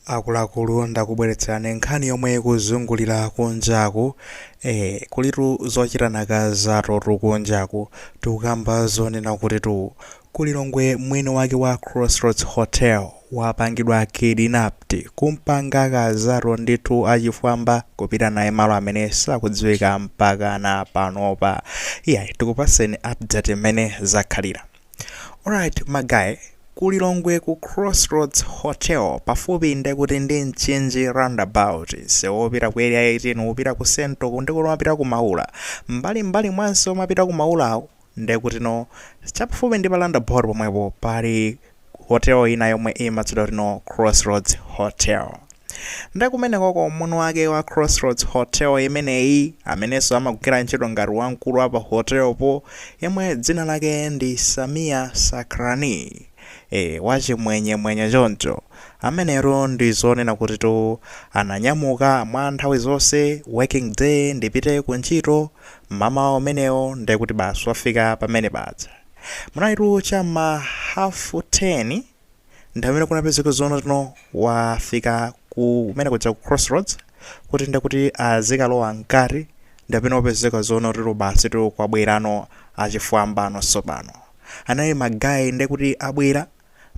Akuluakulu ndakubweretserani nkhani yomwe ikuzungulira kunjaku eh, kulitu zochita nakazatutu kunjaku tikukamba zonena kutitu ku Lilongwe mwini wake wa Crossroads Hotel wapangidwa kidnapped kumpanga kazatu ndithu achifwamba kupita naye malo amene sakudziwika mpakana panopa. Iyayi tikupaseni update mmene zakhalira. Alright magaye, ku Lilongwe ku Crossroads Hotel pafupi ndekuti ndi Mchinji roundabout sewu wopita ku area 18 wopita ku Central ndekuti umapita ku Maula mbali mbali mwanso umapita ku Maulawo ndekuti no chapafupi ndi pa roundabout pomwepo pali hotel ina yomwe imatchedwa kuti no Crossroads Hotel. Nde kumenekoko mwini wake wa Crossroads Hotel imeneyi, amenenso amagwira ntchito ngati wamkulu wa pa hotel po, yemwe dzina lake ndi Sameer Sacranie, ee, wa chimwenyemwenye choncho, amenetu ndi zonena kutitu ananyamuka mwa nthawi zonse, working day, ndipite ku ntchito, mmamawa umenewo nde kuti basi wafika pamene paja. Munalitu cha mma hafu teni. ndi pamene kunapezeka zonena kuti no wafika kumene kuja ku crossroads kuti nde kuti azikalowa mkati ndi pamene wapezeka zonena kuti no basitu kwabwerano achifwambano tsopano anayi magayi nde kuti abwera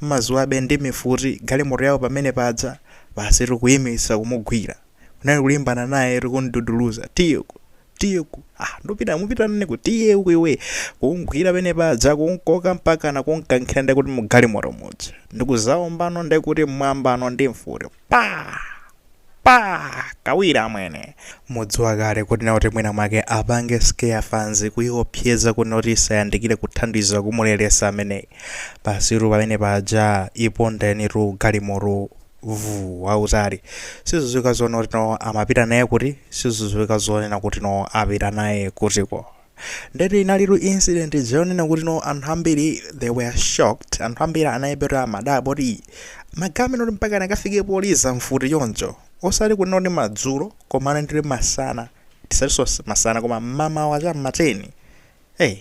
mmaziwabe ndi mfuti galimoto yawo pamene paja basitu kuyimitsa kumugwira kunali kulimbana naye eti kumududuluza tiye uku tiye uku ah ndupita mupita nane ku tiye uku iwe kumgwira pene paja kumkoka mpakana kumkankhira ndekuti mugalimoto muja ndikuzawombano ndekuti mmwambano ndi mfuti pa pa kawiri amwene mudziwa kale kuti nakuti mwina mwake apange scare fanzi kuiopseza kuti nakuti isayandikire kuthandiza kumuleretsa ameneyi basitu pamene paja ipondenitu galimoto vuu wautali siziziwika zonena kuti no amapita naye kuti siziziwika zonena kuti no apita naye kutiko ndeti inalitu incident zonena kuti no anthu ambiri they were shocked anthu ambiri anayamba eti amadabwa kuti "Ii, magaye amenewa kuti mpaka anakafike kuliza mfuti choncho osati kunena kuti madzulo koma anali ndi masana tisatinso masana koma mmamawa cha mmateni Hey,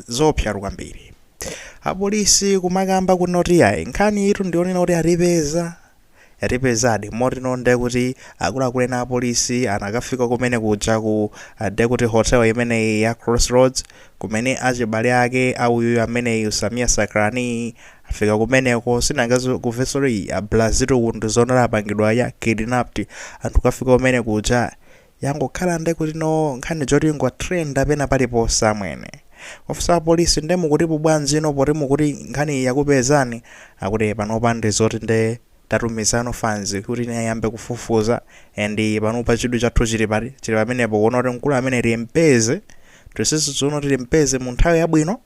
zoopsatu kwambiri apolisi kumakamba kunena kuti ayi nkhaniyitu ndi yoona eti atipeza yatipezadi motino nde kuti akuluakulu ena apolisi anakafika kumene kuja ku uh, nde kuti hotel imeneyi ya crossroads kumene achibale ake auyuyu ameneyu Sameer Sacranie afika kumeneko sinanga akumvetsedwa oti abrazito kuti ndi zoona apangidwa kidnapped anthu kafika kumene kuja yangokhala nde kuti no nkhani yoti ingo trenda pena paliponse amwene ofisa apolisi nde mukutipo bwanji no poti mukuti nkhaniyi yakupezani akuti "Eh, panopa ndi zoti nde tatumizano fans kuti nayo ayambe kufufuza and panopa chidwi chathu chili pati chili pamenepo kuona kuti mkulu ameneyu timpeze tisisize kuti no timpeze mu nthawi yabwino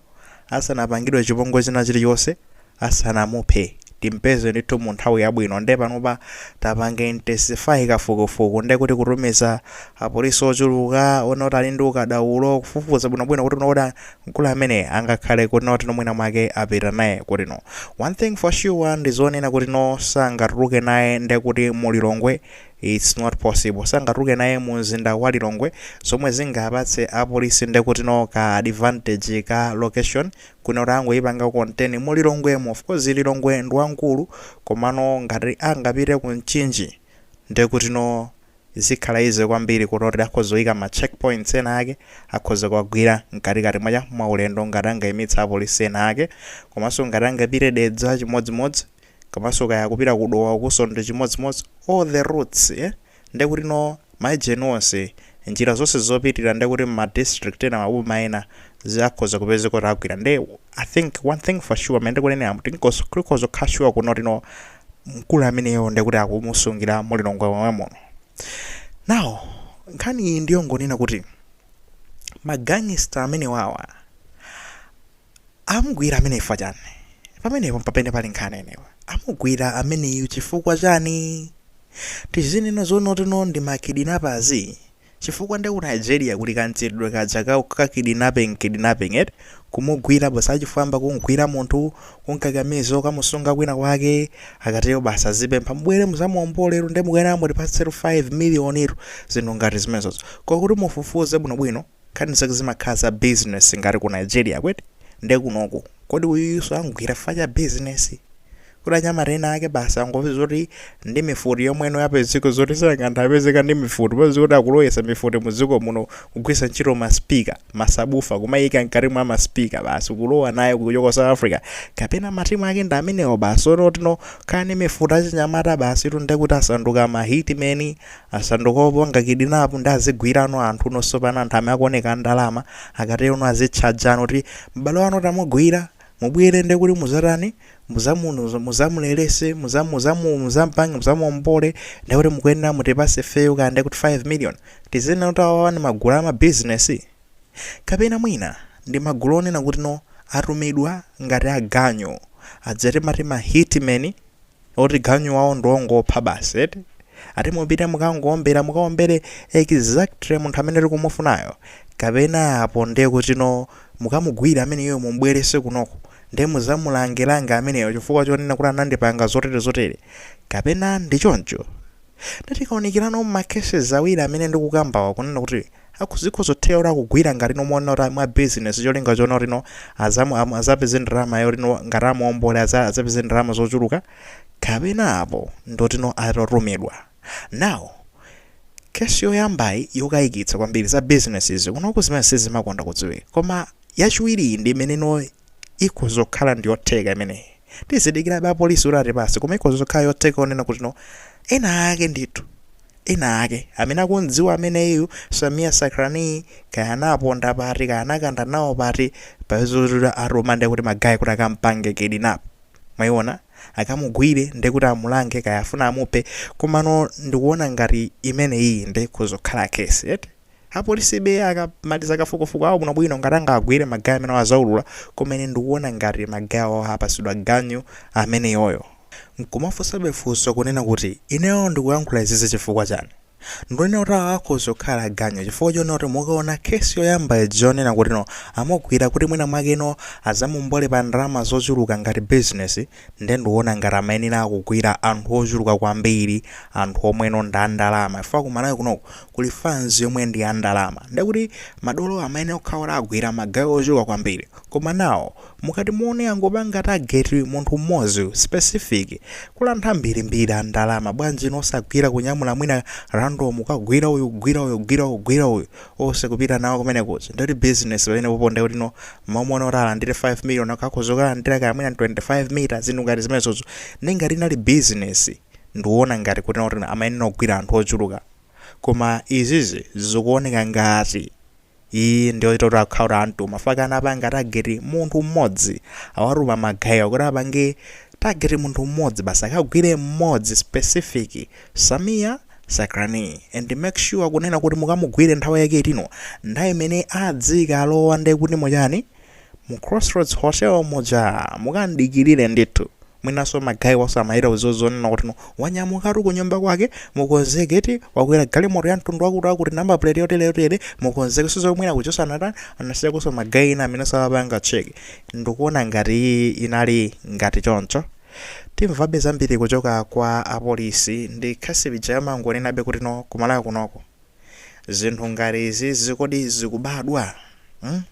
asanapangidwe chipongwe china chilichonse asanamuphe timpeze ndithu mu nthawi yabwino nde panopa tapange intensify kafukufuku nde kuti kutumiza apolisi ochuluka onena kuti ali ndi ukadaulo kufufuza bwinobwino kuona kuti mkulu amene angakhale kuti no mwina mwake apita naye kuti no one thing for sure ndi zonena kuti no sangatuluke naye nde kuti mu Lilongwe It's not possible sangatuluke naye mu mzinda wa Lilongwe zomwe zingapatse apolisi ndekutino ka advantage ka location kunena kuti angoyipanga contain mu Lilongwemo of course Lilongwe ndi wamkulu komano ngati angapite ku Mchinji ndekutino zikhala easy kwambiri kuti akhoza kuyika ma check points ena ake akhoza kuwagwira mkatikati mwacha mwaulendo ngati angayimitse apolisi ena ake komanso ngati angapite Dedza chimodzimodzi Komanso kaya akupita ku Dowa ukuso nde chimodzimodzi all the routes ee ndekuti no ma agent onse njira zonse zopitira ndekuti mma district ena maboma ena zikhoza kupezeka zoti agwira nde i think one thing for sure mmene ndikuneneramo tikhoza kukhala sure kuno kuti no mkulu ameneyo ndekuti akumusungira mu Lilongwe momwe muno now nkhani iyi ndiyongonena kuti ma gangster amenewawa Amugwira ameneyu chifukwa chani? Pamenepo mpamene pali nkhani anyway. Amugwira ameneyu chifukwa chani? Tizinena zonena kutino ndi ma kidnappers? Chifukwa nde ku Nigeria kuli ka mchitidwe kaja ka ka kidnapping kidnapping eti, kumugwira basi achifwamba kumugwira munthu, kumkakamiza kukamusunga kwina kwake, akatero basi azipempha mubwere muzamuomboletu nde mukuyenera mutipatsetu 5 million tu, zinthu ngati zimenezozo. Koma kuti mufufuze bwinobwino. Nkhani zake zimakhala za business ngati ku Nigeria ko eti? Nde kunoku kodi uyuyuso amgwira chifukwa cha business? Kodi anyamata ena ake basi angopeza zoti ndi mifuti yomweno yapezeka zoti sanganthe apezeka ndi mifuti popeza kuti akulowetsa mifuti mu dziko muno kugwiritsa ntchito ma speaker, masabufa kumaika mkati mwa ma speaker basi kulowa nayo kuchoka ku South Africa? Kapena ma team ake ndi amenewo basi oti no okay ali ndi mifuti achinyamata basitu ndekuti asanduka ma hit men Asanduka opanga kidnap ndi azigwirano anthu no sopano anthu amene akuoneka andalama akatero no azitchajano kuti m'bale wanu tamugwira mubwere nde kuti muzatani muzamu muzamu release muzamu muzamu muzampange muzamuombole nde kuti mukuyenera mutipase fee yo kaya nde kuti 5 million tizinena kuti awawa ndi magulu ama business kapena mwina ndi magulu onena kuti no atumidwa ngati aganyu aja timati ma hitmen oti ganyu wawo ndi ongopha basi eti ati mupite mukangowombera mukawombere exactly munthu amene tikumufunayo kapena apo ndiye kutino mukamugwire ameneyo mumubwerese kunoko ndiye muzamulangelange ameneyo chifukwa chonena kuti anandipanga zotere zotere kapena ndi choncho Nde tikaonikirano mma cases awiri amene ndikukambawa kunena kuti aku zikhoza kutheka kuti amugwira ngati no monena kuti mwa business cholinga chona kuti no azamu am- azapeze ndalama yoti no ngati amuombole aza- azapeze ndalama zochuluka kapena apo ndoti no atatumidwa now case yoyambayi yokayikitsa kwambiri za business izi kunoku zimene sizimakonda kudziwika koma yachiwiri iyi ndi imene no ikhoza kukhala ndiyotheka imeneyi tizidikirabe apolisi kuti atipase koma ikhoza kukhala yotheka onena kuti no ena ake ndithu ena ake amene akumdziwa ameneyu samia sakrani kaya anaponda pati kaya anakanda nawo pati paja zoterozo ndiye kuti magayi kuti akampangire kidnap mwayiona akamugwire ndiye kuti amulange kaya afuna amuphe komano ndikuona ngati imeneyi ndiye ikhoza kukhala kesi eti Apolisibe akamaliza kafukufuku awo bwinobwino ngati angawagwire magayi amenewa azaulula koma ine ndikuona ngati magayi awo apasidwa ganyu ameneyoyo. Nkumafunsabe funso kunena kuti ineyo ndikuyankhula izizi chifukwa chani? Ndunena kuti awa akhoza kukhala aganyu chifukwa chonena kuti mukaona case yoyamba ija yonena kuti no amugwira kuti mwina mwake no azamuombole pa ndalama zochuluka ngati business, nde nduona ngati amayenera kugwira anthu ochuluka kwambiri anthu omweno ndi andalama chifukwa ku Malawi kunoko kuli fanzi yomwe ndi andalama ndekuti madolo amayenera kukhala kuti agwira magayi ochuluka kwambiri koma now mukati muone angopanga target munthu mmodzi specific kuli anthu ambirimbiri a ndalama bwanji no osagwira kunyamula mwina random kukagwira uyu kugwira uyu kugwira uyu kugwira uyu Ose kupita nawo kumene kuja ndiyoti business pamene popo ndiye kuti no mmalo monena kuti alandire 5 million akhoza kukalandira kaya mwina 25 mita zinthu ngati zimenezozo ndiye ngati inali business ndikuona ngati kuti no amayenera kugwira anthu ochuluka koma izizi zikuoneka ngati iyi ndi yotino akhala kuti anthu mafaka anapanga tageti munthu mmodzi awatuma magayiwa kuti apange tageti munthu mmodzi basi akagwire mmodzi specific samia Sakrani and make sure kunena kuti mukamugwire nthawi yake yotino nthawi imene adzikalowa nde kuti mu ujeni mu crossroads hotel muja mukamdikilire ndithu mwinanso magayi waso amawauza izo zonena kuti no wanyamukatu kunyumba kwake mukonzeke eti wakwera galimoto ya mtundu wakuti akuti number plate yotere yotere mukonzeke sizo mwina kuhotelo anasiyakonso magayi ena amenenso amapanga check ndikuona ngati inali ngati choncho Timvabe zambiri kuchoka kwa a police ndikakhala ine ndimangonenabe kuti no ku Malawi kunoko zinthu ngati izizi kodi zikubadwa mm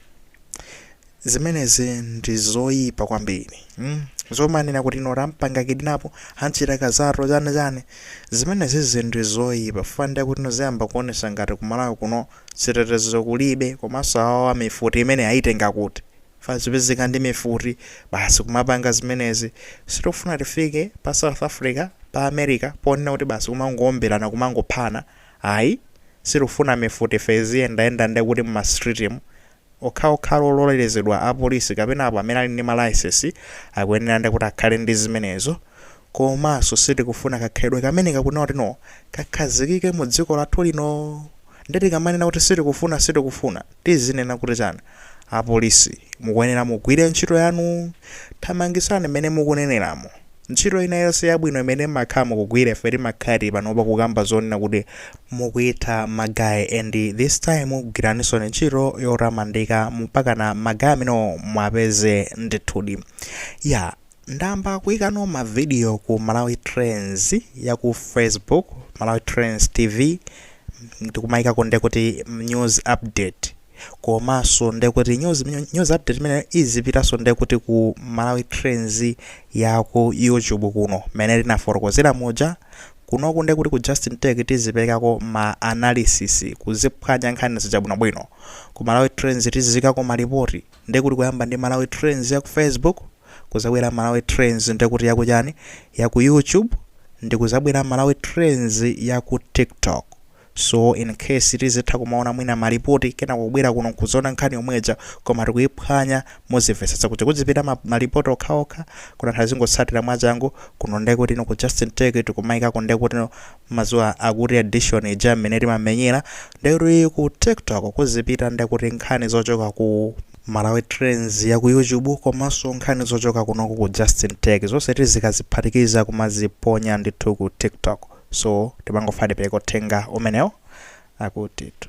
zimenezi ndi zoyipa kwambiri mm zomanena kuti no tampanga kidnap anachita kazato chani chani zimenezizi ndi zoyipa fukwa ndiye kuti no ziyamba kuonesa ngati ku Malawi kuno chitetezo kulibe komanso awawa mifuti imene ayitenga kuti Fazipezeka ndi mifuti basi kumapanga zimenezi. Sitikufuna tifike pa South Africa, pa America ponena kuti basi kumangoombelana kumangophana ayi. Sitikufuna mifuti iziyendayenda ndekuti mma street mu. Okhaokhal ololelezedwa a police kapena apo amene ali ndi ma license akuyenera nde kuti akhale ndi zimenezo. Komanso sitikufuna kakhalidwe kameneka kunena kuti no kakhazikike mu dziko lathu lino. Nde tikamanena kuti sitikufuna sitikufuna. Tizinena kuti chani? Apolisi, mukuyenera mugwire ntchito yanu. Thamangitsani mmene mukuneneramo. Ntchito ina yonse yabwino imene mmakhala mukugwira ife timakhala tili panopa kukamba zonena kuti mukuitha ma guy and this time gwiraninsoni ntchito yotamandika mpakana ma guy amenewo muwapeze ndithudi. Yeah. Ndayamba kuikano ma video ku Malawi Trends ya ku Facebook, Malawi Trends TV, ndikumaikako ndekuti news update komaso ndekuti news news update imeneyo izipitanso ndekuti ku Malawi Trends ya ku YouTube kuno mmene ndinafotokozera muja kunoku ndekuti ku Justin Tech tizipelekako ma analysis kuziphwanya nkhani zija bwinobwino ku Malawi Trends tiziikako malipoti ndekuti kuyamba ndi Malawi Trends ya ku Facebook kuzabwera malawi trends ndekuti yaku chani yaku youtube ndikuzabwera malawi trends yaku tiktok so incase tizitha kumaona mwina malipoti kenako kubwera kuno nkudzaona nkhani yomweja koma tikuiphwanya muzimvetsetsa kuti kuzipita ma, malipoti okhaokha kuna tizingotsatira mwachangu kuno ndekuti no ku justin tech tikumaikako ndekuti no madzulo akutitu edition ija mmene timamenyera ndekuti ku tiktok kuzipita ndekuti nkhani zochoka ku Malawi trends ya ku YouTube komaso nkhani zochoka kunoku ku Justin Tech zonse tizikaziphatikiza kumaziponya ndithu ku TikTok so timangofuna tipereke uthenga umeneo akutitu.